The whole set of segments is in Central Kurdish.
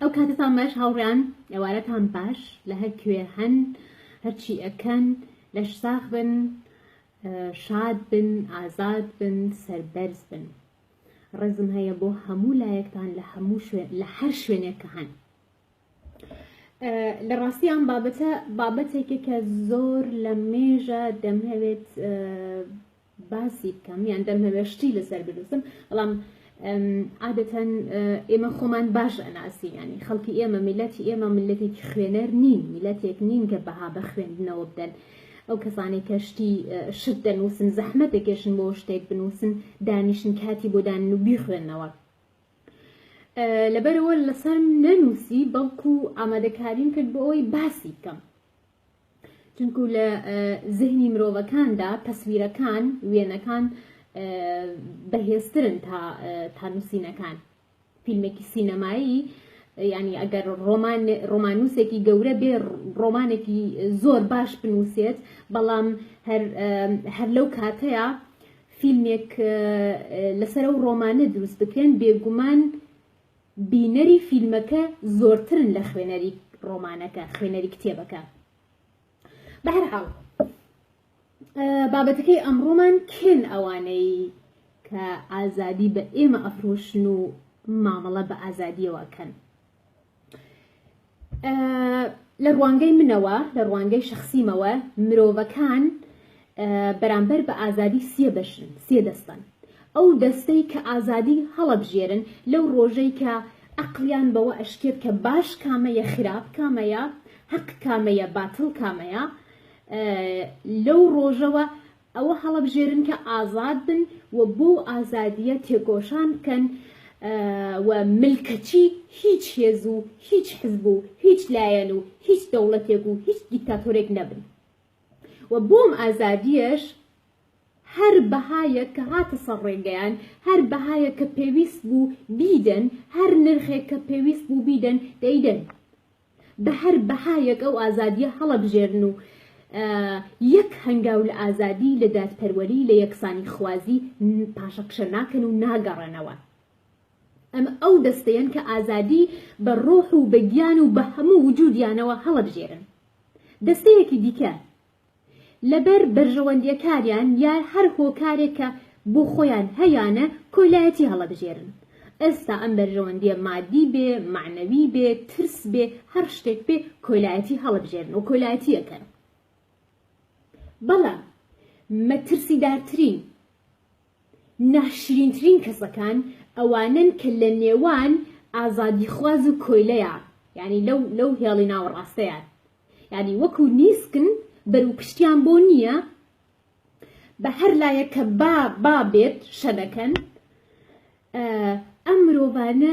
ئەو کاتتان باش هاوڕێیان ئێوارەتان باش لە هەر کوێ هەن هەرچی ئەکەن لەش ساخ بن شاد بن ئازاد بن سەربەرز بن ڕێزم هەیە بۆ هەموو لایەکتان لە هەموو لە هەر شوێنێک کە هەن لە ڕاستی ئەم بابەتە بابەتێکە کە زۆر لە مێژە دەمهەوێت باسی بکەم یان دەمهەوێ شتی لەسەر بنووسم بەڵام عادەتەن ئێمە خۆمان باش ئەناسی ینی خەڵکی ئێمە میلەتی ئێمە ملەتێکی خوێنەر نین میلەتێک نین کە بەها بە خوێندنەوە بدەن ئەو کەسانێک کە شتی شت دەنووسن زەحمە دەکێشن بۆ شتێک بنووسن دانیشن کاتی بۆ دان و بیخوێندنەوە لەبەرەوە لەسەر نەنووسی بەڵکو ئامادەکاریم کرد بۆ ئەوەی باسی بکەم چونکوو لە زهنی مرۆڤەکاندا تەسویرەکان، وێنەکان بەهێزترن تا تا نووسینەکان. فیلمێکی سینەمایی یعنی ئەگەر ڕۆمان ڕۆمانوسێکی گەورە بێ ڕۆمانێکی زۆر باش بنووسێت بەڵام هەر لەو کاتەیە فیلمێک لەسەر و ڕۆمانە دروست بکرێن بێگومان بینەری فیلمەکە زۆرترن لە خوێنەری ڕۆمانەکە خوێنەری کتێبەکە بەهرحاڵ بابەتەکەی ئەمڕۆمان کێن ئەوانەی کە ئازادی بە ئێمە ئەفرۆشن و مامەڵە بە ئازادیەوەکەن لە ڕوانگەی منەوە لە ڕوانگەی شخصیمەوە مرۆڤەکان بەرامبەر بە ئازادی سێ بەشن سێ دەستن ئەو دەستەی کە ئازادی هەڵەبژێرن لەو ڕۆژەی کە ئەقلیان بەوە ئەشکێت کە باش کامەیە خراپ کامەیە حەق کامەیە باتڵ کامەیە لەو ڕۆژەوە ئەوە هەڵەبژێرن کە ئازاد بن و بۆ و ئازادییە تێکۆشان بکەن و ملکەچی هیچ هێز و هیچ حزب و هیچ لایەن و هیچ دەوڵەتێک و هیچ دیکتاتۆرێک نەبن و بۆ ئەم ئازادییەش هەر بەهایەک کە هاتە سەر ڕێگەیان هەر بەهایەک کە پێویست بوو بیدەن هەر نرخێک کە پێویست بوو بیدەن دەیدەن بە هەر بەهایەک ئەو ئازادییە هەڵەبژێرن و یەک هەنگاو لە ئازادی، لە دادپەروەری، لە یەکسانیخوازی پاشەکشە ناکەن و ناگەڕێنەوە. ئەمە ئەو دەستەیەن کە ئازادی بە ڕۆح و بە گیان و بە هەموو وجودیانەوە هەڵەبژێرن. دەستەیەکی دیکە. لەبەر بەرژەوەندیەکانیان یا هەر هۆکارێک کە بۆ خۆیان هەیانە کۆیلایەتی هەڵەبژێرن. ئێستا ئەم بەرژەوەندیە مادی بێ، مەعنەوی بێ، ترس بێ، هەر شتێک بێ کۆیلایەتی هەڵەبژێرن و کۆیلایەتی ئەکەن. بەڵام مەترسیدارترین، ناشرینترین کەسەکان ئەوانەن کە لە نێوان ئازادیخواز و کۆیلەیا یانی لەو لەو هێڵی ناوەڕاستەیان. یانی وەکو نیسکن بەرو پشتیان بۆ نیە بە هەر لایەک کە با با بێت شە دەکەن ئەم مرۆڤانە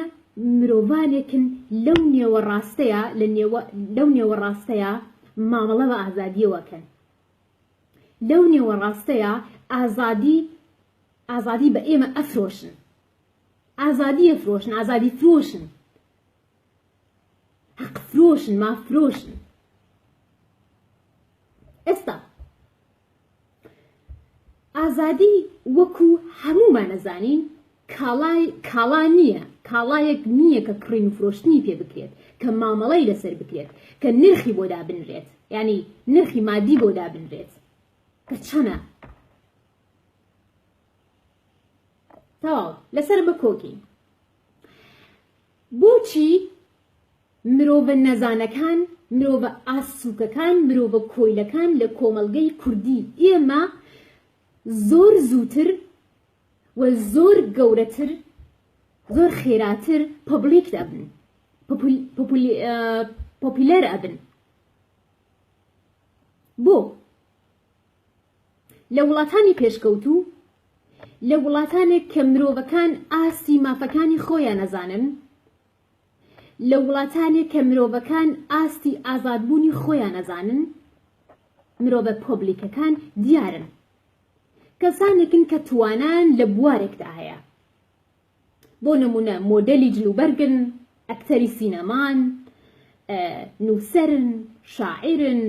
مرۆڤانێکن لەو نێوە ڕاستەیە لە نێوە لەو نێوە ڕاستەیە مامەڵە بە ئازادیەوەکەن لەو نێوە ڕاستەیە ئازادی ئازادی بە ئێمە ئەفرۆشن ئازادیە فرۆشن ئازادی فرۆشن حەق فرۆشن ماف فرۆشن ئێستا ئازادی وەکو هەمومان ئەزانین کاڵای کاڵا نییە کاڵایەک نییە کە کڕین و فرۆشتنی پێ بکرێت کە مامەڵەی لەسەر بکرێت کە نرخی بۆ دابنرێت ینی نرخی مادی بۆ دابنرێت کە چەنە تەواو لەسەر بە کۆکی بۆچی مرۆڤە نەزانەکان، مرۆڤە ئاست سووکەکان، مرۆڤە کۆیلەکان لە کۆمەڵگەی کوردیی ئێمە زۆر زووتر و زۆر گەورەتر، زۆر خێراتر پۆبلیک ئەبن، پۆپیلەر ئەبن؟ بۆ؟ لە وڵاتانی پێشکەوتوو، لە وڵاتانێک کە مرۆڤەکان ئاستی مافەکانی خۆیان ئەزانن، لە وڵاتانێک کە مرۆڤەکان ئاستی ئازادبوونی خۆیان ئەزانن، مرۆڤە پۆبلیکەکان دیارن. کەسانێکن کە توانایان لە بوارێکدا هەیە. بۆ نموونە مۆدێلی جلوبەرگن، ئەکتەری سینەمان، نووسەرن، شاعیرن،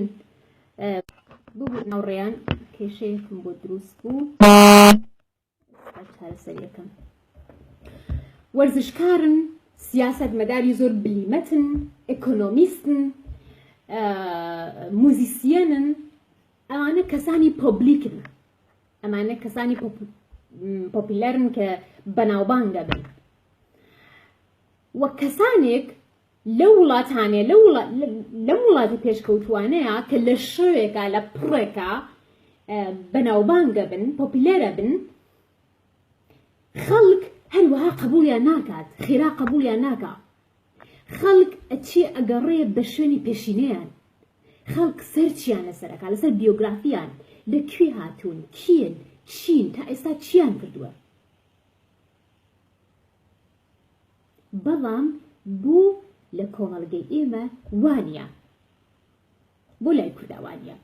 ببوور ناوڕێیان کێشەیەکم بۆ دروست بوو چارەسەریەکەم وەرزشکارن سیاست مەداری زۆر بلیمەتن ئەکۆنۆمیستن موزیسیەنن ئەوانە کەسانی پۆبلیکن ئەمانە کەسانی پۆپیلەرن کە بەناوبانگ دەبن وە کەسانێک لە وڵاتانێ لە وڵاتی پێشکەوتوانەیە کە لە شەوێکە لە پڕێکە بەناوبانگە بن پۆپیلەرە بن خەڵک هەروەها قبولیان ناکات خێرا قبولیان ناکە خەڵک ئەچێ ئەگەڕێ بە شوێنی پێشینەیان خەڵک سەرچیان لەسەر ئەکا لەسەر بیۆگرافیان لە کوێ هاتوون کین چین تا ئێستا چیان کردووە بەڵام بۆ لە کۆمەڵگەی ئێمە وانە بۆ لای کورداوانە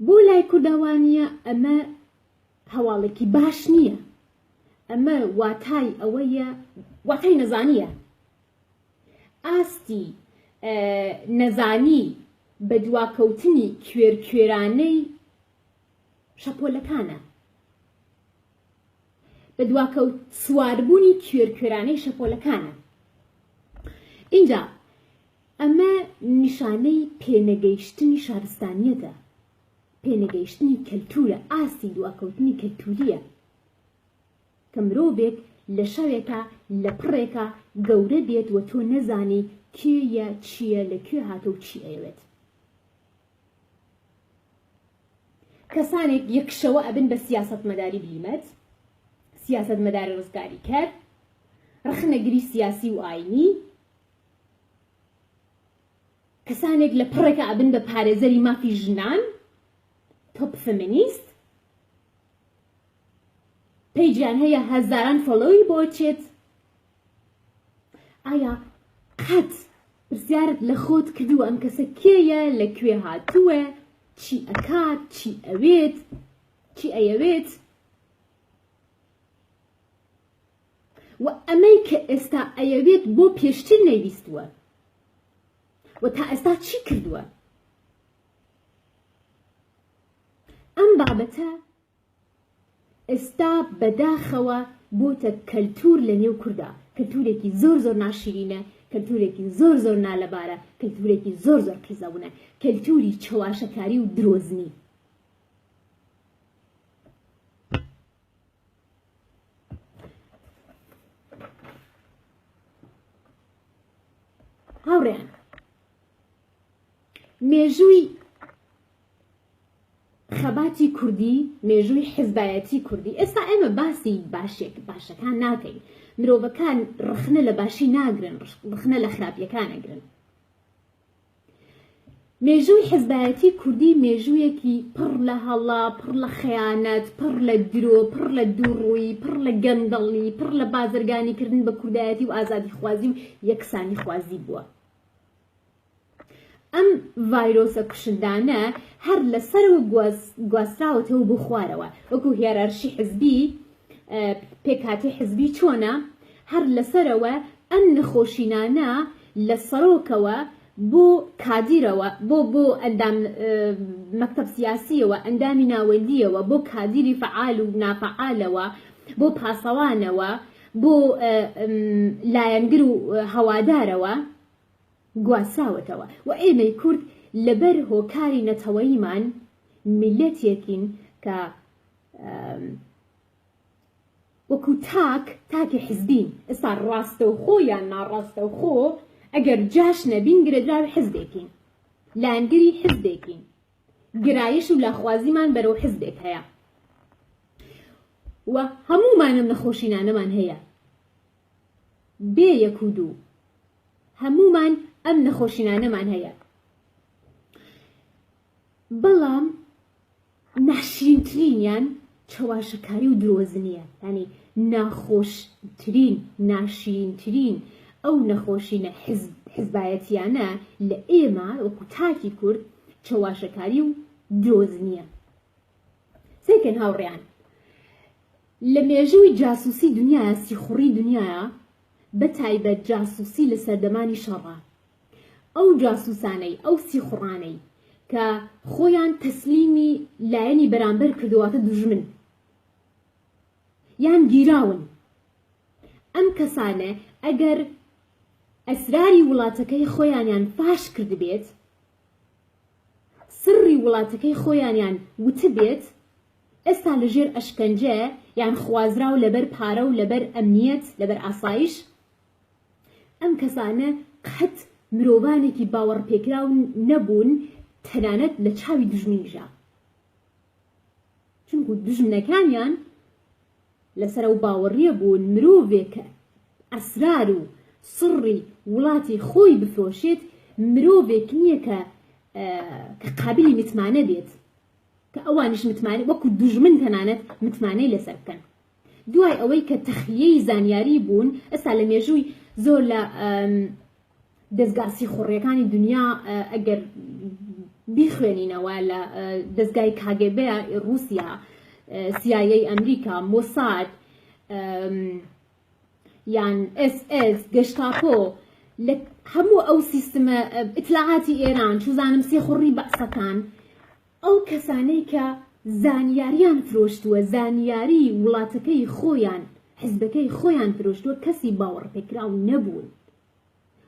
بۆ لای کورداوانە ئەمە هەواڵێکی باش نییە ئەمە واتای ئەوەیە واتای نەزانیە ئاستی نەزانی بە دواکەوتنی کوێرکوێرانەی شەپۆلەکانە بە دواکەوت سواربوونی کوێرکوێرانەی شەپۆلەکانە اینجا ئەمە نیشانەی پێنەگەیشتنی شارستانیەتە پێنەگەیشتنی کەلتورە، ئاستی دواکەوتنی کەلتوریە کە مرۆڤێک لە شەوێکا لە پڕێکا گەورە بێت و تۆ نەزانی کێ یە چیە لە کوێ هاتە و چی ئەیەوێت. کەسانێک یەک شەوە ئەبن بە سیاسەتمەداری بلیمەت، سیاسەتمەداری ڕزگاریکەر، ڕەخنەگری سیاسی و ئاینی، کەسانێک لە پەڕێکا ئەبن بە پارێزەری مافی ژنان، تۆپ فمینیست، پەیجیان هەیە هەزاران فۆلۆوی بۆ چێت ئایا قەت پرسیارت لە خۆت کردووە ئەم کەسە کێیە لە کوێ هاتووە چی ئەکات چی ئەوێت چی ئەیەوێت و ئەمەی کە ئێستا ئەیەوێت بۆ پێشتر نەیویستووە و تا ئێستا چی کردووە ئەم بابەتە ئێستا بەداخەوە بۆتە کەلتور لە نێو کووردا کەلتورێکی زۆر زۆر ناشیرینە کەلتورێکی زۆر زۆر نالەبارە کەلتورێکی زۆر زۆر قیزەونە کەلتوری چەواشەکاری و درۆزنی هاوڕێ مێژووی خەباتی کوردی مێژووی حزبایەتی کوردی ئێستا ئێمە باسی باشێک باشەکان ناکەین مرۆڤەکان ڕخنە لە باشی ناگرن ڕخنە لە خراپیەکان نەگرن مێژووی حزبایەتی کوردی مێژوویەکی پڕ لە هەڵە، پڕ لە خەیانەت، پڕ لە درۆ، پڕ لە دووڕوویی، پڕ لە گەندەڵی، پڕ لە بازرگانیکردن بە کوردایەتی و ئازادیخوازی و یەکسانیخوازی بووە. ئەم ڤایرۆسە کوشندانە هەر لە سەرەوە گواستراوەتەوە بۆ خوارەوە، وەکو هیەرارشی حزبی، پێکهاتی حزبی چۆنە هەر لەسەرەوە ئەم نەخۆشینانە لە سەرۆکەوە بۆ کادیرەوە بۆ بۆ ئەندام مەکتەب سیاسیەوە ئەندامی ناوەندیەوە بۆ کادیری فعال و نافعالەوە بۆ پاسەوانەوە بۆ لایەنگر و هەوادارەوە گواستراوەتەوە و ئێمەی کورد لەبەر هۆکاری نەتەوەیمان میلەتێکین کە وەکو تاک تاکی حزبین ئێستا ڕاستەوخۆ یان ناڕاستەوخۆ ئەگەر جاش نەبین گرێدراوی حزبێکین لایەنگری حزبێکین گرایش و لاخوازیمان بەرەو حزبێک هەیە و هەموومانم نەخۆشینانەمان هەیە بێ یەک و دوو هەمومان ئەم نەخۆشینانەمان هەیە بەڵام ناشرینترینیان چەواشەکاری و درۆزنیە یانی ناخۆشترین ناشرینترین ئەو نەخۆشینە حزبایەتیانە لە ئێمە وەکو تاکی کورد چەواشەکاری و درۆزنیە سەیکەن هاوڕیان لە مێژووی جاسوسی دنیاە سیخوڕی دنیاە بە تایبەت جاسوسی لە سەردەمانی شەڕە ئەو جاسوسانەی ئەو سیخوڕانەی کە خۆیان تەسلیمی لایەنی بەرامبەر کردوە واتە دوژمن یان گیراون ئەم کەسانە ئەگەر ئەسراری وڵاتەکەی خۆیانیان فاش کردبێت سڕی وڵاتەکەی خۆیانیان وتبێت ئێستا لەژێر ئەشکەنجە یان خوازراو لەبەر پارە و لەبەر ئەمنیەت لەبەر ئاسایش ئەم کەسانە قەت مرۆڤانێکی باوەڕپێکراو نەبوون تەنانەت لە چاوی دوژمنیشا چونکو دوژمنەکانیان لەسەر ئەو باوەڕیە بوون مرۆڤێک کە ئەسرار و سڕی وڵاتی خۆی بفرۆشێت مرۆڤێک نییە کە کە قابلی متمانە بێت کە ئەوانش متمانە وەکو دوژمن تەنانەت متمانەی لەسەر بکەن دوای ئەوەی کە تەخلیەی زانیاری بوون ئێستا لە مێژووی زۆر لە دەزگا سیخوڕیەکانی دنیا ئەگەر بیخوێنینەوە لە دەزگای کاگەبێ رووسیا سیایی ئەمریکا مۆساد یان SS گەشتاپۆ لە هەموو ئەو سیستمە ئیتلاعاتی ئێران چوزانم سێخوڕی بەعسەکان ئەو کەسانەی کە زانیاریان فرۆشتووە، زانیاری وڵاتەکەی خۆیان، حزبەکەی خۆیان فرۆشتووە، کەسی باوەڕپێکراو نەبوون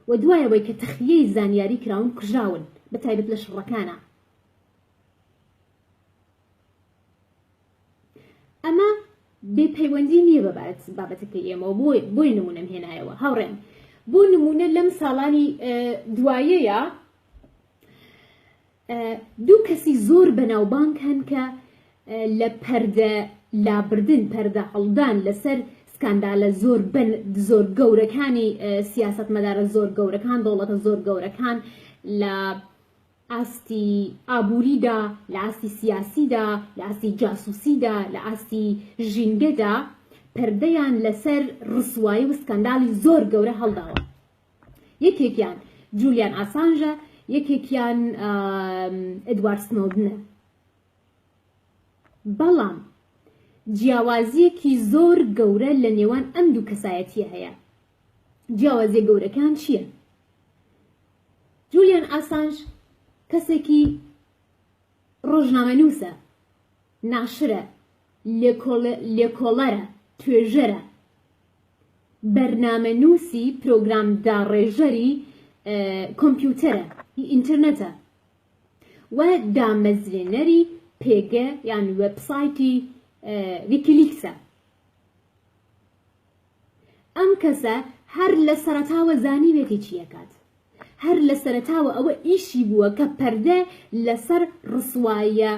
و دوای ئەوەی کە تەخلیەی زانیاری کراون کوژراون، بە تایبەت لە شڕەکانا. ئەمە بێ پەیوەندی نییە بە بابەتەکەی ئێمەوە، بۆیە نموونەم هێنایەوە. هاوڕێیان، بۆ نموونە لەم ساڵانی دوایەیا، دوو کەسی زۆر بەناوبانگ هەن کە لە پەردە لابردن، پەردە هەڵدان لەسەر سکاندالە زۆر زۆر گەورەکانی سیاسەتمەدارە زۆر گەورەکان، دەوڵەتە زۆر گەورەکان لە ئاستی ئابووریدا، لە ئاستی سیاسیدا، لە ئاستی جاسوسیدا، لە ئاستی ژینگەدا پەردەیان لەسەر ڕسوایی و سکاندالی زۆر گەورە هەڵداوە. یەکێکیان جولیان ئاسانژە یەکێکیان ئەدوار سنۆدنە بەڵام جیاوازیەکی زۆر گەورە لە نێوان ئەم دوو کەسایەتیە هەیە جیاوازیە گەورەکان چییە؟ جولیان ئاسانج کەسێکی ڕۆژنامەنووسە ناشرە لێکۆڵەرە توێژەرە بەرنامەنووسی پرۆگرام داڕێژەری کۆمپیوتەرە ئینترنتە و دامەزرێنەری پێگە یان وێبسایتی ویکیلیکسە ئەم کەسە هەر لە سەرەتاوە زانیوێتی چیەکات هەر لە سەرەتاوە ئەوە ئیشی بووە کە پەردە لەسەر ڕسواییە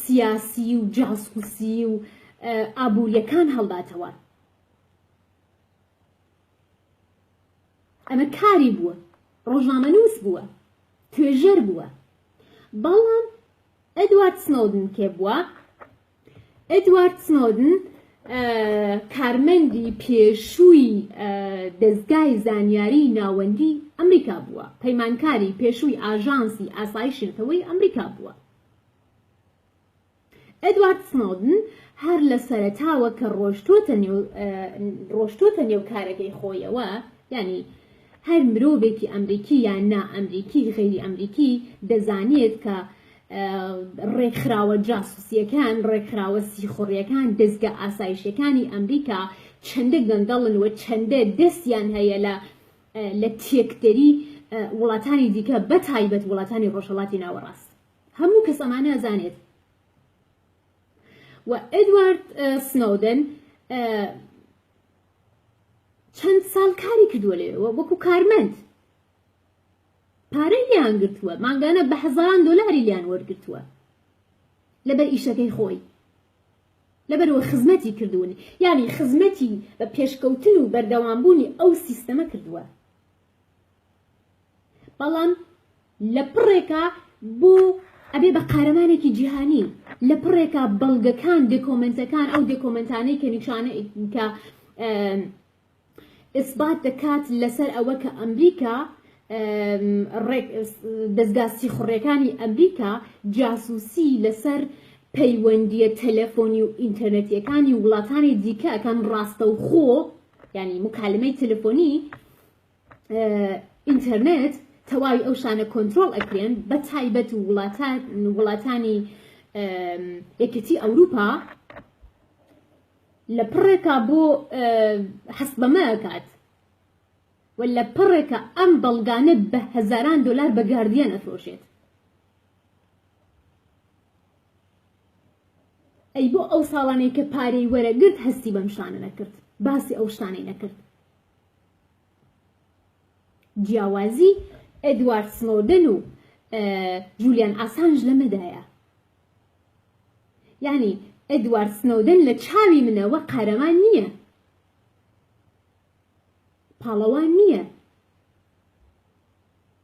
سیاسی و جاسوسی و ئابووریەکان هەڵداتەوە ئەمە کاری بووە ڕۆژنامەنووس بووە توێژەر بووە بەڵام ئەدوارد سنۆدن کێ بووە ئێدوارد سنۆدن، کارمەندی پێشووی دەزگای زانیاریی ناوەندیی ئەمریکا بووە، پەیمانکاری پێشووی ئاژانسی ئاسایشی نەتەوەیی ئەمریکا بووە. ئێدوارد سنۆدن هەر لە سەرەتاوە کە ڕۆشتووەتە نێو کارەکەی خۆیەوە، یانی هەر مرۆڤێکی ئەمریکی یان نا ئەمریکی، غەیری ئەمریکی، دەزانێت کە ڕێکخراوە جاسوسییەکان، ڕێکخراوە سیخوڕییەکان، دەزگا ئاسایشییەکانی ئەمریکا چەندە گەندەڵن و چەندە دەستیان هەیە لە لە تێکدەری وڵاتانی دیکە بە تایبەت وڵاتانی ڕۆژهەڵاتی ناوەڕاست هەموو کەس ئەمانە ئەزانێت و ئەدوارد سنودن چەند ساڵ کاری کردووە لێەوە وەکو کارمەند پارەی لێیان گرتووە مانگانە بە هەزاران دۆلاری لیان وەرگرتووە لەبەر ئیشەکەی خۆی لەبەرەوە خزمەتی کردوون یانی خزمەتی بە پێشکەوتن و بەردەوامبوونی ئەو سیستەمە کردووە بەڵام لە پڕێکا بۆ ئەبێ بە قارەمانێکی جیهانی لە پڕێکا بەڵگەکان دێکۆمنتەکان ئەو دێکۆمنتانەی کە نیشانە کە ئیسبات دەکات لەسەر ئەوە کە ئەمریکا دەزگا سیخوڕیەکانی ئەمریکا جاسوسی لەسەر پەیوەندیە تەلەفۆنی و ئینتەرنەتیەکانی وڵاتانی دیکە ئەکەن ڕاستەوخۆ ینی مکالمەی تەلەفۆنی ئینتەرنێت تەواوی ئەو شانە کۆنتترۆل ئەکرێن بە تایبەت و وڵاتانی یەکەتی ئەوروپا لە پڕێکا بۆ هەست بەمە ئەکات و لە پڕێکە ئەم بەڵگانە بە هەزاران دلار بە گاردیان ئەفرۆشێت ئەی بۆ ئەو ساڵانەی کە پارەی وەرەگرت هەستی بەم شانە نەکرد باسی ئەو شتانەی نەکرد جیاوازی ئەدوارد سنۆدن و جولیان ئاسانج لەمەدایە یانی ئێدوارد سنۆدن لە چاوی منەوە قارەمان نییە پاڵەوان نییە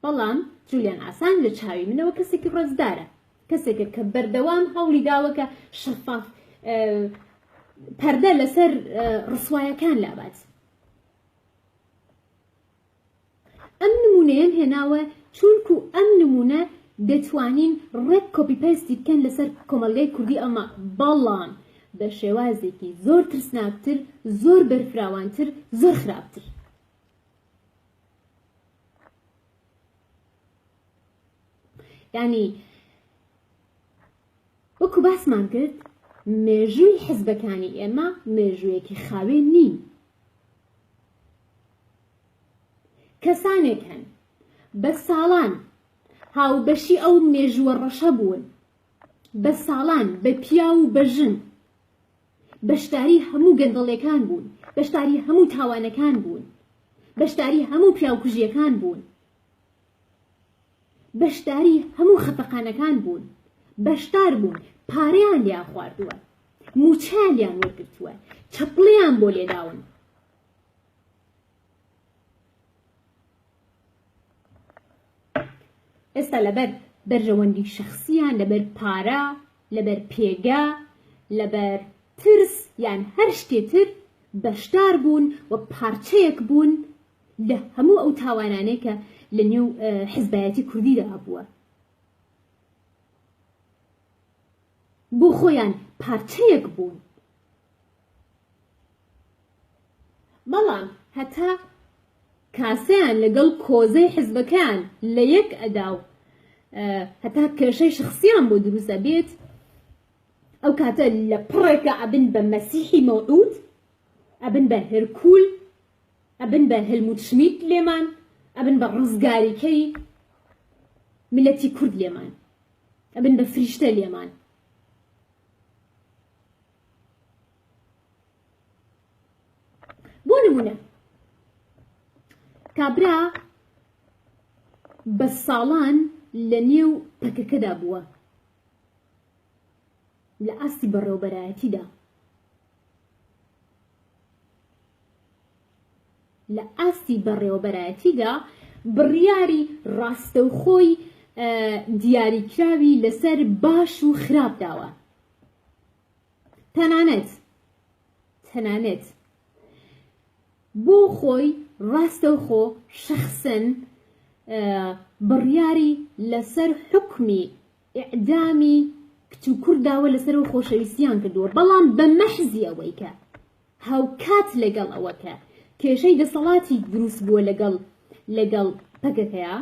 بەڵام جولیان ئاسان لە چاوی منەوە کەسێکی ڕێزدارە کەسێکە کە بەردەوام هەوڵی داوەکە شەفاف پەردە لەسەر ڕسوایەکان لابات ئەم نمونەیەم هێناوە چوونکو ئەم نمونە دەتوانین ڕێک کۆپی پەیستی بکەن لەسەر کۆمەڵگای کوردی ئەڵمان بەڵام بە شێوازێکی زۆر ترسناکتر زۆر بەرفراوانتر زۆر خراپتر. یانی وەکو باسمان کرد مێژووی حزبەکانی ئێمە مێژوویەکی خاوێن نین کەسانێک هەن بە ساڵان هاوبەشی ئەو مێژووە ڕەشە بوون بە ساڵان بە پیا و بە ژن بەشداری هەموو گەندەڵیەکان بوون بەشداری هەموو تاوانەکان بوون بەشداری هەموو پیاوکوژیەکان بوون بەشداری هەموو خەفەقانەکان بوون بەشدار بوون پارەیان لیا خواردووە موچیان لیان وەرگرتووە چەپڵیان بۆ لێداون ئێستا لەبەر بەرژەوەندی شخصیان لەبەر پارە لەبەر پێگە لەبەر ترس یان هەر شتێتر بەشدار بوون و پارچەیەک بوون لە هەموو ئەو تاوانانەی کە لە نێو حزبایەتی کوردیدا هەبووە بۆ خۆیان پارچەیەک بوون بەڵام هەتا کاسەیان لەگەڵ کۆزەی حزبەکەیان لە یەک ئەدا و هەتا کێشەی شخصیان بۆ دروستە بێت ئەو کاتە لە پڕێکە ئەبن بە مەسیحی مەوعود ئەبن بە هەرکول ئەبن بە هەلموت شمیت لێمان ئەبن بە ڕزگاریکەی ملەتی کورد لێمان ئەبن بە فریشتە لێمان بۆ نمونە کابرا بە ساڵان لە نێو پەکەکەدا بووە لە ئاستی بەڕێوبەرایەتیدا لە ئاستی بەڕێوەبەرایەتیدا بڕیاری ڕاستەوخۆی دیاریکراوی لەسەر باش و خراپ داوە تەنانەت تەنانەت بۆ خۆی ڕاستەوخۆ شخصن بڕیاری لەسەر حکمی ئعدامی کچ و کورداوە لەسەر و خۆشەویستیان کردووە بەڵام بە مەحزی ئەوەی کە هاوکات لەگەڵ ئەوەکە کێشەی دەسەڵاتی دروست بووە لەگەڵ لەگەڵ پەکەکەیە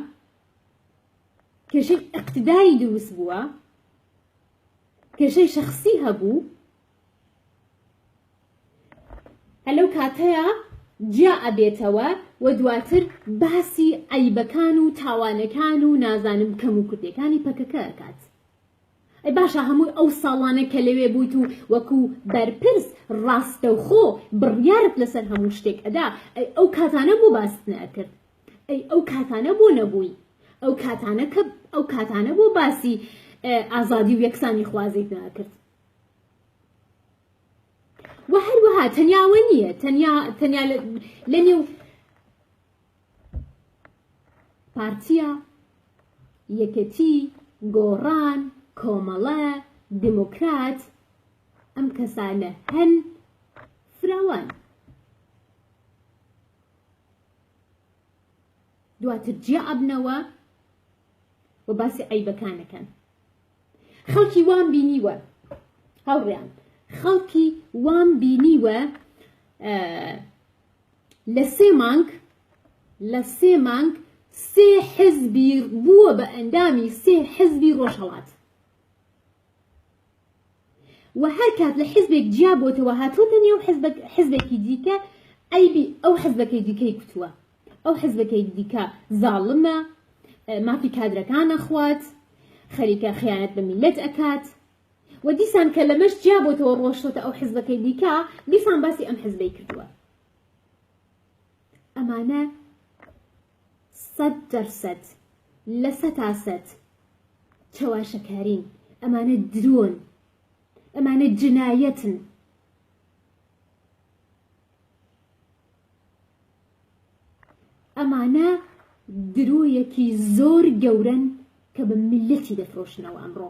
کێشەی اقتداری دروست بووە کێشەی شەخسی هەبوو هەر لەو کاتەیە جیا ئەبێتەوە و دواتر باسی عەیبەکان و تاوانەکان و نازانم کەم و کوردەکانی پەکەکە ئەکات ئەی باشە هەموو ئەو ساڵانە کە لەوێ بوویت و وەکو بەرپرس ڕاستەوخۆ بڕیارت لەسەر هەموو شتێک ئەدا ئەو کاتانە بۆ باست نەکرد ئەی ئەو کاتانە بۆ نەبووی ئەو کاتانە کە ئەو کاتانە بۆ باسی ئازادی و یەکسانی خوازیت ناکرد و هەروەها تەنیاوە نییە تەنیا تەنیا لە نێو پارتیە یەکەتی گۆڕان کۆمەڵە دموکرات ئەم کەسانە هەن فراوان دواتر جیا ئەبنەوە و باسی عیبەکانەکەن خەڵکی وام بینیوە هەڵڕیان خەڵکی وام بینیوە لە سێ مانگ لە سێ مانگ سێ حزبی بووە بە ئەندامی سێ حزبی ڕۆژهڵات و هەر کات لە حزبێک جیا بۆتەوە هاتۆتە نێو حزبێکی دیکە ئەیبی ئەو حزبەکەی دیکەی کوتووە ئەو حزبەکەی دیکە زاڵمە مافی کادرەکانە خوات خەریکە خیانەت بە میلەت ئەکات و دیسان کە لەمەش جیا بۆتەوە ڕۆشتۆتە ئەو حزبەکەی دیکە دیسان باسی ئەم حزبەی کردووە ئەمانە سەد دەر سەد لە سەتا سەد چەواشەکارین ئەمانە درۆن ئەمانە جنایەتن. ئەمانە درۆیەکی زۆر گەورەن کە بە میلەتی دەفرۆشنەوە ئەمڕۆ.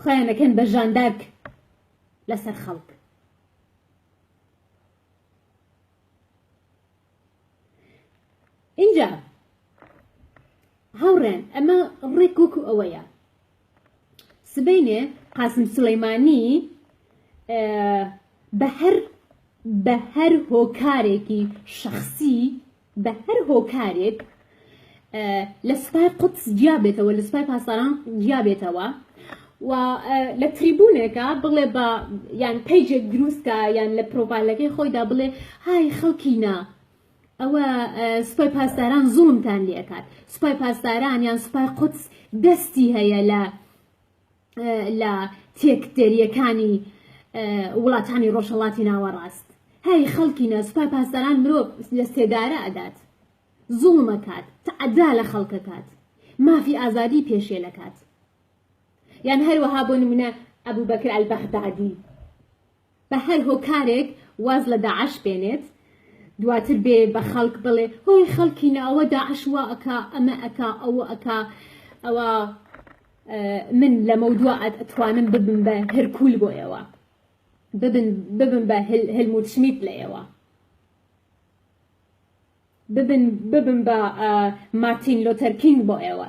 خۆیان ئەکەن بە ژاندارک لەسەر خەڵک. ئینجا هاوڕێن ئەمە ڕێک وەکو ئەوەیە سبینێ قاسم سلەیمانی بە هەر بە هەر هۆکارێکی شخصی بە هەر هۆکارێک لە سوپای قودس جیا بێتەوە لە سوپای پاسداران جیا بێتەوە و لە تریبونێکە بڵێ بە یان پیجێک دروستکە یان لە پرۆپالەکەی خۆیدا بڵێ های خەڵکینە ئەوە سوپای پاسداران زوڵمتان لێکات سوپای پاسداران یان سوپای قودس دەستی هەیە لە لە تێکدەریەکانی وڵاتانی ڕۆژهەڵاتی ناوەڕاست هەی خەڵکینە سوپای پاسداران مرۆڤ لە سێدارە ئەدات زوڵمەکات تعدا لە خەڵکەکات مافی ئازادی پێشێلەکات یان هەروەها بۆ نمونە ئەبوو بەکر ئەلبەغدادی بە هەر هۆکارێک واز لە داعش بێنێت دواتر بێ بە خەڵک بڵێ هۆی خەڵکینە ئەوە داعش وا ئەکا ئەمە ئەکا ئەوە ئەکا ئەوە من لەمە دوا ئەتوانم ببم بە هەرکول بۆ ئێوە ببم بە هەلموت شمیت لە ئێوە ببن ببن بە مارتین لۆتەرکینگ بۆ ئێوە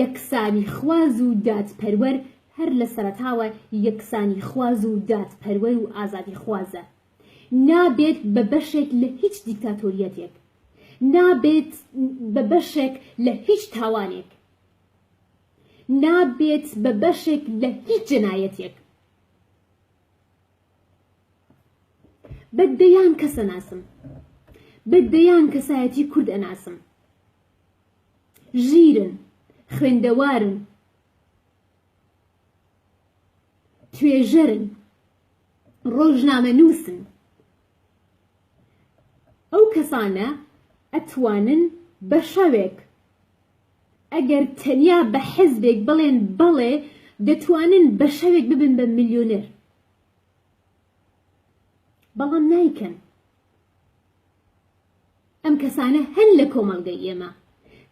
یەکسانیخواز و دادپەروەر هەر لە سەرەتاوە یەکسانیخواز و دادپەروەر و ئازادیخوازە. نابێت بە بەشێک لە هیچ دیکتاتۆرییەتێک. نابێت بە بەشێک لە هیچ تاوانێک. نابێت بە بەشێک لە هیچ جەنایەتێک. بە دەیان کەس ئەناسم. بە دەیان کەسایەتی کورد ئەناسم. ژیرن، خوێندەوارن، توێژەرن، ڕۆژنامەنووسن. ئەو کەسانە ئەتوانن بە شەوێک ئەگەر تەنیا بە حزبێک بڵێن بەڵێ دەتوانن بە شەوێک ببن بە ملیۆنەر بەڵام نایکەن ئەم کەسانە هەن لە کۆمەڵگەی ئێمە.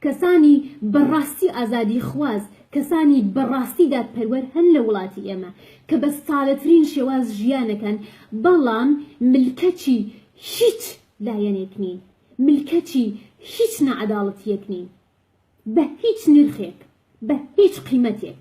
کەسانی بە ڕاستی ئازادی خواز، کەسانی بە ڕاستی دادپەروەر هەن لە وڵاتی ئێمە، کە بە سادەترین شێواز ژیانەکەن، بەڵام ملکەچی هیچ لایەنێک نین، ملکەچی هیچ ناعەداڵەتییەک نین، بە هیچ نرخێک، بە هیچ قیمەتێک.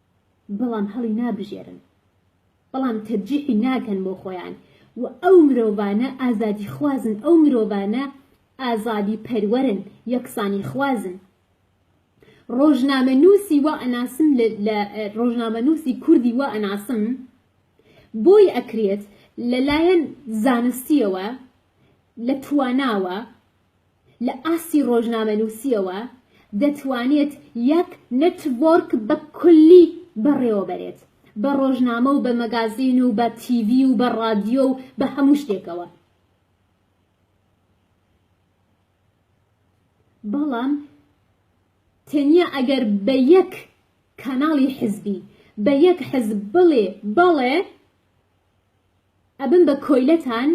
بەڵام هەڵی نابژێرن بەڵام تەرجیحی ناکەن بۆ خۆیان و ئەو مرۆڤانە ئازادی خوازن ئەو مرۆڤانە ئازادی پەروەرن یەکسانی خوازن ڕۆژنامەنووسی وا ئەناسم لە ڕۆژنامەنووسی کوردی وا ئەناسم بۆی ئەکرێت لەلایەن زانستیەوە لە تواناوە لە ئاستی ڕۆژنامەنووسییەوە دەتوانێت یەک نێتوۆرک بە کولی بەڕێوەبەرێت، بە ڕۆژنامە و بە مەگازین و بە تیڤی و بە ڕادیۆ و بە هەموو شتێکەوە. بەڵام تەنیا ئەگەر بە یەک کاناڵی حزبی، بە یەک حزب بڵێ بەڵێ، ئەبن بە کۆیلەتان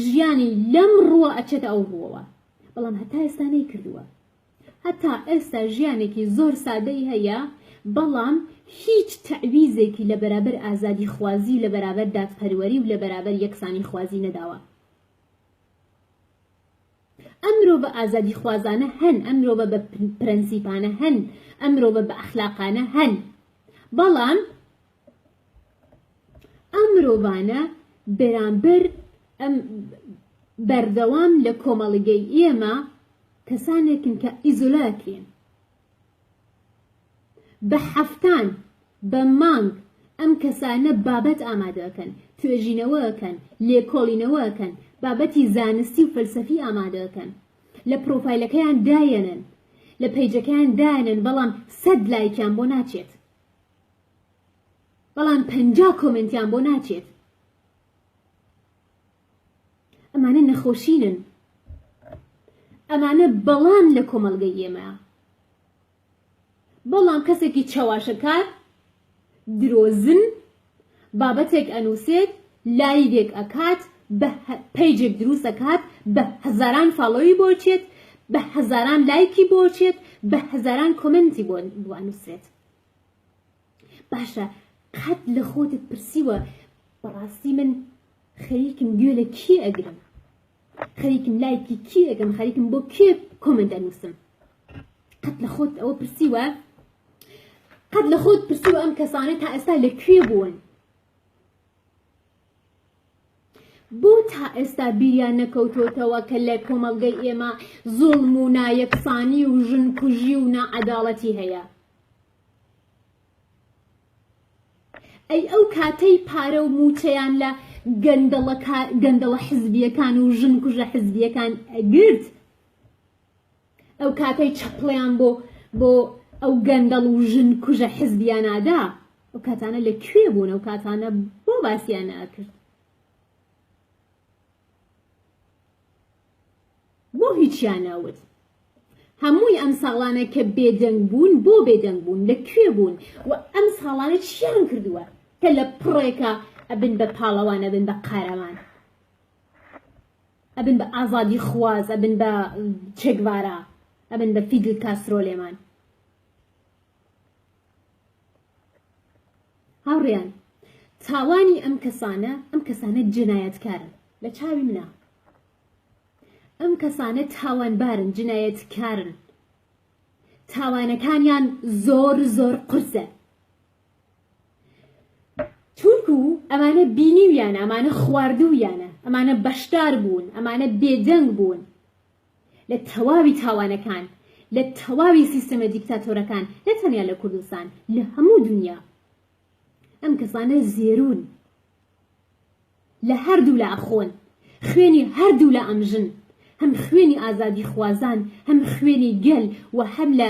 ژیانی لەم ڕووە ئەچێتە ئەو ڕووەوە بەڵام هەتا ئێستا نەیکردووە هەتا ئێستا ژیانێکی زۆر سادەی هەیە بەڵام هیچ تەعویزێکی لە بەرابەر ئازادی خوازی و لە بەرابەر دادپەروەری و لە بەرابەر یەکسانی خوازی نەداوە ئەم مرۆڤە ئازادی خوازانە هەن ئەم مرۆڤە بە پرەنسیپانە هەن ئەم مرۆڤە بە ئەخلاقانە هەن بەڵام ئەم مرۆڤانە بەرامبەر ئەم بەردەوام لە کۆمەڵگەی ئێمە کەسانێکن کە ئیزۆلاکرێن بە حەفتان بە مانگ ئەم کەسانە بابەت ئامادەکەن توێژینەوەکەن لێکۆڵینەوەکەن بابەتی زانستی و فەلسەفی ئامادەکەن لە پرۆفایلەکەیان دایەنن لە پەیجەکەیان دایەنن بەڵام سەد لایکیان بۆ ناچێت بەڵام پەنجا کۆمێنتیان بۆ ناچێت ئەمانە نەخۆشینن ئەمانە بەڵام لە کۆمەلگەی ئێمە بەڵام کەسێکی چەواشەکار درۆزن بابەتێک ئەنووسێت لایدێک ئەکات بە پەیجێک دروست ئەکات بە هەزاران فاڵەوی بۆچێت بە هەزاران لایکی بۆچێت بە هەزاران کۆمنتی بۆ بوانووسێت باشە قەت لە خۆتت پرسیوە بەڕاستی من خەریکم گوێ لە کی ئەگرم خەریکم لایکی کی ئەگەم خەریکم بۆ کێ کۆمنت ئەنووسم قەت لە خۆت ئەوە پرسیوە قەت لە خۆت پرسیوە ئەم کەسانە تا ئێستا لە کوێ بوون بۆ تا ئێستا بیریان نەکەوتۆتەوە کە لە کۆمەڵگەی ئێمە زوڵم و نایەکسانی و ژن کوژی و ناعەداڵەتی هەیە؟ ئەی ئەو کاتەی پارە و موچەیان لە گەندەڵە حزبیەکان و ژن کوژە حزبیەکان ئەگرت، ئەو کاتەی چەپڵەیان بۆ بۆ ئەو گەندەڵ و ژن کوژە حزبیانادا ئەو کاتانە لە کوێ بوون ئەو کاتانە بۆ باسییان ناکرد بۆ هیچیان ناوت هەمووی ئەم ساڵانە کە بێدەنگ بوون بۆ بێدەنگ بوون لە کوێ بوون و ئەم ساڵانە چیان کردووە کە لە پڕێکە ئەبن بە پاڵەوانە بن بە قارەمان ئەبن بە ئازادی خواز ئەبن بە چێگڤارا ئەبن بە فیدل کاسترۆ لێمان هاوڕیان تاوانی ئەم کەسانە ئەم کەسانە جنایەتکارن لە چاوی منە ئەم کەسانە تاوانبارن جنایەتکارن تاوانەکانیان زۆر زۆر قرسە چونکو ئەمانە بینیویانە ئەمانە خواردوویانە ئەمانە بەشدار بوون ئەمانە بێدەنگ بوون لە تەواوی تاوانەکان لە تەواوی سیستەمە دیکتاتۆرەکان نە تەنیا لە کوردستان لە هەموو دنیا ئەم کەسانە زێرون لە هەردوو لە ئەخۆن خوێنی هەردوو لە ئەمژن هەم خوێنی ئازادی خوازان هەم خوێنی گەل و هەم لە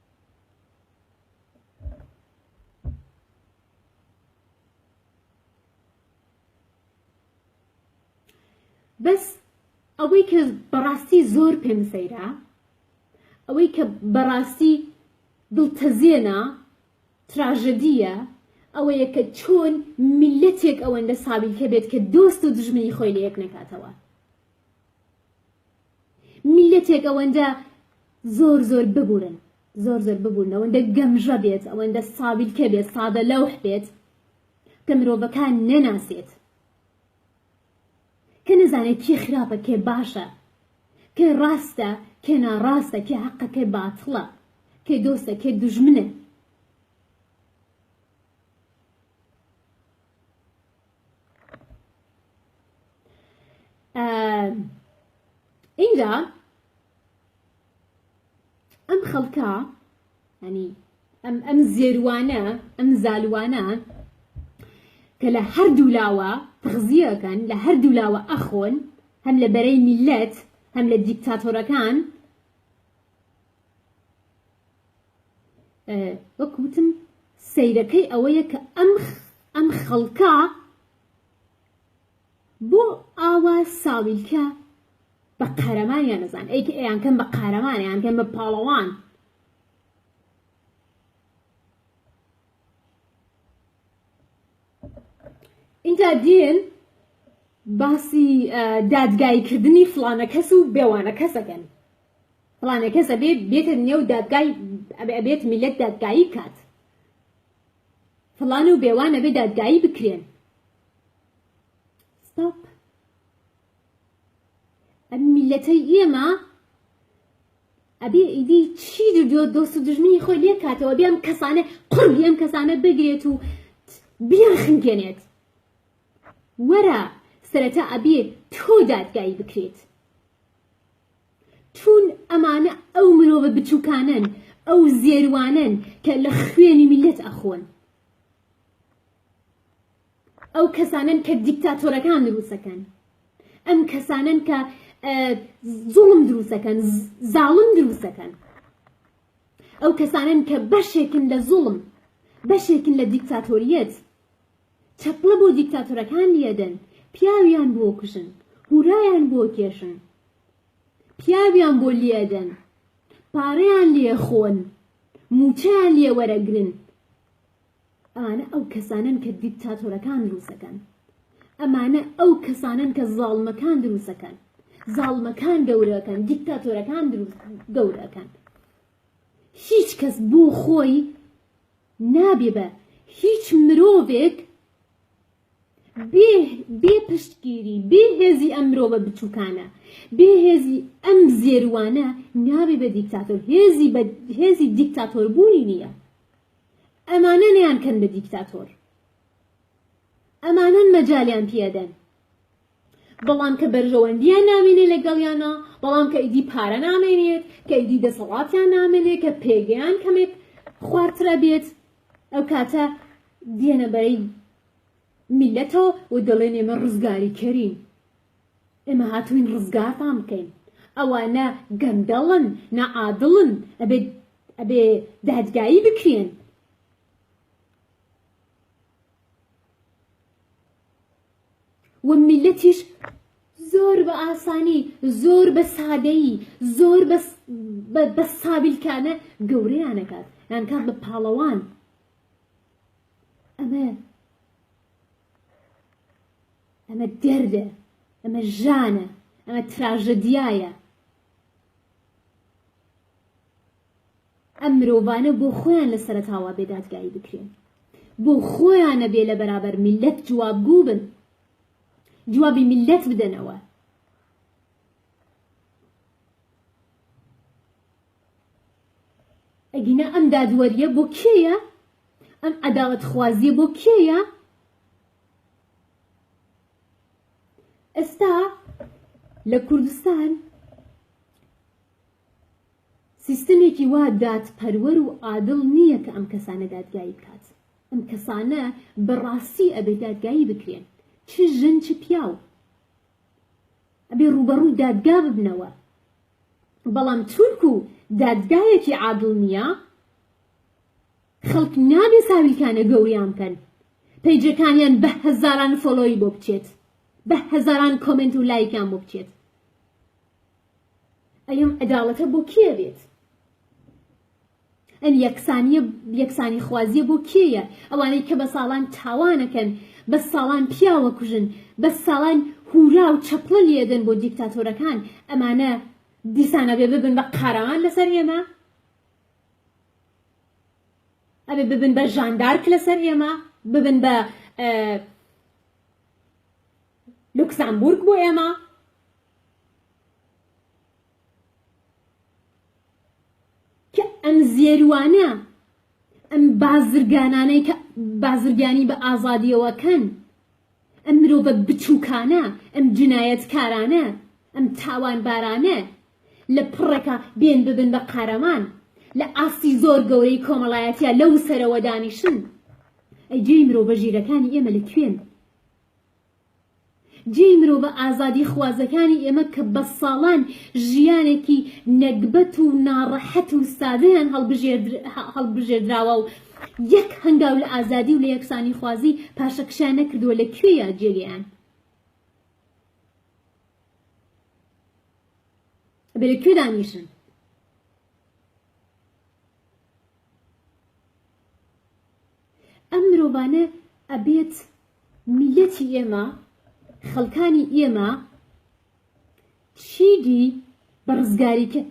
بەس ئەوەی کە بەڕاستی زۆر پێم سەیرا ئەوەی کە بەڕاستی دڵتەزێنە تراژەدیە ئەوەیە کە چۆن میلەتێک ئەوەندە سابیلکە بێت کە دۆست و دژمنی خۆی لە یەک نەکاتەوە میلەتێک ئەوەندە زۆر زۆر ببورن زۆر زۆر ببورن ئەوەندە گەمژە بێت ئەوەندە ساویلکە بێت سادە لەوح بێت کە مرۆڤەکان نەناسێت کە نەزانێت کێ خراپە کێ باشە کێ ڕاستە کێ ناڕاستە کێ حەقە کێ باتڵە کێ دۆستە کێ دژمنە ئینجا ئەم خەڵکە ینی ئەم ئەم زێروانە ئەم زالوانە کە لە هەردوو لاوە تغزیەکەن لە هەردوو لاوە ئەخۆن هەم لە بەرەی میلەت هەم لە دیکتاتۆرەکان وەک وتم سەیرەکەی ئەوەیە کە ئەم ئەم خەڵکە بۆ ئاوا ساویلکە بە قارەمانیان نەزان ئەیکە ئەیان کەم بە قارەمانیان کەم بە پاڵەوان اینجا دێن باسی دادگایکردنی فلانە کەس و بێوانە کەسەکەن فلانە کەس ئەبێ بێتە نێو دادگای ئەبێت میلەت دادگایی کات فلان و بێوان ئەبێ دادگایی بکرێن ستاپ ئەم میلەتەی ئێمە ئەبێ ئیدی چی دو دۆست و دژمنی خۆی لێ کاتەوە بێم کەسانە قڕی ئەم کەسانە بگرێت و بیان خنگێنێت وەرە سەرەتا ئەبێ تۆ دادگایی بکرێت چون ئەمانە ئەو مرۆڤە بچوکانەن ئەو زێروانەن کە لە خوێنی میلەت ئەخۆن ئەو کەسانن کە دیکتاتۆرەکان دروسەکەن ئەم کەسانن کە زوڵم دروسەکەن زاڵم دروسەکەن ئەو کەسانن کە بەشێکن لە زوڵم بەشێکن لە دیکتاتۆریەت چەپڵە بۆ دیکتاتۆرەکان لیەدەن پیاویان بۆ کوژن هورایان بۆ کێشن پیاویان بۆ لیەدەن پارەیان لیە خۆن موچەیان لیە وەرەگرن ئەمانە ئەو کەسانەن کە دیکتاتۆرەکان دروسەکەن ئەمانە ئەو کەسانەن کە زاڵمەکان دروسەکەن زاڵمەکان گەورەکەن دیکتاتۆرەکان دروست گەورەکەن هیچ کەس بۆ خۆی نابێ بە هیچ مرۆڤێک بێ بێ پشتگیری بێ هێزی ئەم مرۆڤە بچووکانە بێ هێزی ئەم زێروانە نابێ بە دیکتاتۆر هێزی بە هێزی دیکتاتۆر بوونی نییە ئەمانە نیان کەن بە دیکتاتۆر ئەمانەن مەجالیان پیادەن بەڵام کە بەرژەوەندیان نامێنێ لەگەڵیانا، بەڵام کە ئیدی پارە نامێنێت، کە ئیدی دەسەڵاتیان نامێنێ، کە پێگەیان کەمێک خوارترە بێت، ئەو کاتە دێنە بەرەی میلەتەوە و دەڵێن ئێمە ڕزگاریکەرین ئێمە هاتوین ڕزگارتان بکەین ئەوانە گەندەڵن نەعادڵن ئەبێت ئەبێ دادگایی بکرێن و میلەتیش زۆر بە ئاسانی زۆر بە سادەیی زۆر بە سابیلکانە گەورەیانەکات یانکات بە پاڵەوان ئەمە ئەمە دەردە ئەمە ژانە ئەمە تراژەدیایە ئەم مرۆڤانە بۆ خۆیان لە سەرەتاوە بێ دادگایی بکرێن بۆ خۆیانە بێ لە بەرابەر میلەت جوابگو بن جوابی میلەت بدەنەوە ئەگینا ئەم دادوەریە بۆ کێیە ئەم عداوت خوازیە بۆ کێیە ئێستا لە کوردستان سیستەمێکی وا دادپەروەر و عادڵ نییە کە ئەم کەسانە دادگایی بکات. ئەم کەسانە بە ڕاستی ئەبێ دادگایی بکرێن. چ ژن چ پیاو. ئەبێ ڕووبەڕووی دادگا ببنەوە. بەڵام چونکو دادگایەکی عادڵ نییە، خەڵک نابێ ساویلکانە گەوریان بکەن. پەیجەکانیان بە هەزاران فۆلۆی بۆ بچێت. بە هەزاران کۆمێنت و لایکیان بۆ بچێت. ئەم عەداڵەتە بۆ کێ بێت؟ ئەم یەکسانیە یەکسانی خوازیە بۆ کێیە ئەوانەی کە بە ساڵان تاوانەکەن بە ساڵان پیاوە کوژن بە ساڵان هورا و چەپڵە لێدەن بۆ دیکتاتۆرەکان ئەمانە دیسانە بێ ببن بە قارەمان لەسەر ئێمە ئەبێ ببن بە ژاندارک لەسەر ئێمە ببن بە لوکسامبورگ بۆ ئێمە کە ئەم زێروانە ئەم بازرگانانەی کە بازرگانی بە ئازادیەوەکەن ئەم مرۆڤە بچووکانە ئەم جنایەتکارانە ئەم تاوانبارانە لە پڕێکا بێن ببن بە قارەمان لە ئاستی زۆر گەورەی کۆمەڵایەتە لەو سەرەوە دانیشن ئەی جێی مرۆڤە ژیرەکانی ئێمە لە کوێن جێی مرۆڤە ئازادیخوازەکانی ئێمە کە بە ساڵان ژیانێکی نەگبەت و ناڕەحەت و سادەیان هەڵبژێردراوە و یەک هەنگاو لە ئازادی و لە یەکسانیخوازی پاشەکشیان نەکردووە، لە کوێیە جێگەیان؟ ئەبێ لە کوێ دانیشن؟ ئەم مرۆڤانە ئەبێت میلەتی ئێمە خەڵکانی ئێمە چیدی بە ڕزگاری کرد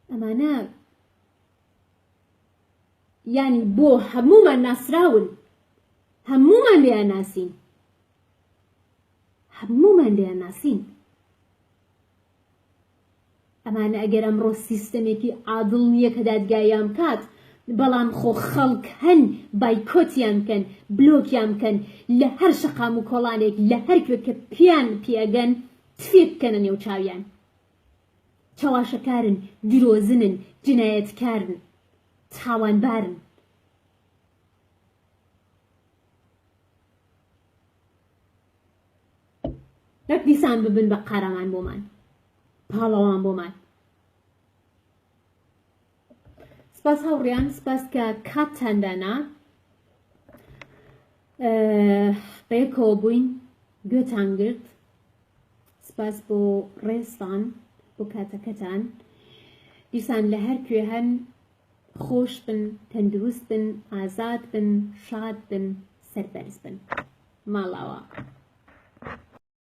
ئەمانە ینی بۆ هەمومان ناسراون هەمومان لێیان ناسین هەمومان لێیان ناسین ئەمانە ئەگەر ئەمڕۆ سیستەمێکی عادڵ نیە کە دادگایان بکات بەڵام خۆ خەڵک هەن بایکۆتیان بکەن بلۆکیان بکەن لە هەر شەقام و کۆڵانێک لە هەر کوێ کە پێیان پێگەن تفێک بکەنە نێو چاویان چەواشەکارن درۆزنن جنایەتکارن تاوانبارن دەک دیسان ببن بە قارەمان بۆمان پاڵەوان بۆمان سپاس هاوڕیان سپاس کە کاتتاندانا بەیەکەوە بووین گوێتان گرت سپاس بۆ ڕێستان بۆ کاتەکەتان دیسان لە هەر کوێ هەن خۆش بن تەندروست بن ئازاد بن شاد بن سەربەرز بن ماڵاوا.